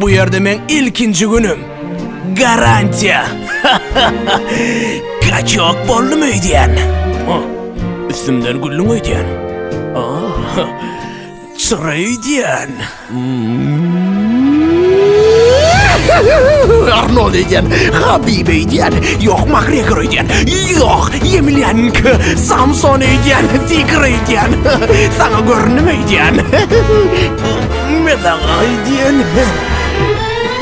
Bu ýerde meň ilkinji günüm. Garantiýa. Kaçok boldum öýdýän. Üstümden güllüň öýdýän. Çyra öýdýän. Arnold öýdýän, Habib öýdýän, ýok Makgregor öýdýän, ýok Ýemilýanky, Samson öýdýän, Tiger öýdýän. Saňa göründimi öýdýän? Men saňa aýdýan.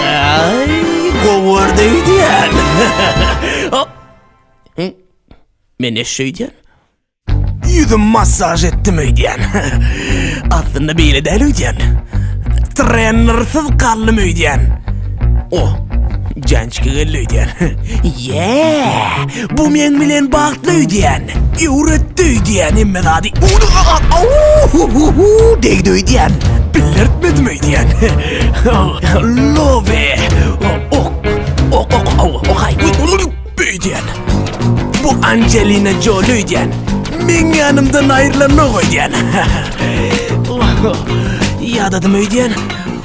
Aý, gowarda aýdýan. Men eşşe aýdýan. Ýüzüm massaj etdim aýdýan. Aslynda beýle däl aýdýan. Trenersiz galdym aýdýan. O, jançki geldi aýdýan. Ýee! Bu meň bilen bagtly öýdýän. Öwretdi öýdýän hemme zady. Owuuuuuuu! Degdi öýdýän. Bildirtmedim öýdýän. Lobe! Ok! Ok ok ok ok ok aý! Öýdýän. Bu Anjelina Joli öýdýän. Meň ýanymdan aýrylanok öýdýän. Ýadadym öýdýän.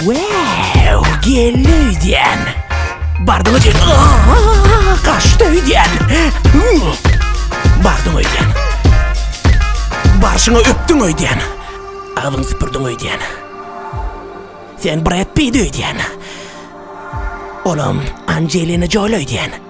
Wow, geldi öýdýän. Bardyň öýdýän. Aa, Gaçdy öýdýän. Uw, Bardyň öýdýän. Barşyňa öpdüň öýdýän. Agzyňy süpürdiň öýdýän. Sen Brad Pitt öýdýän. Olam Angelina Jolie öýdýän.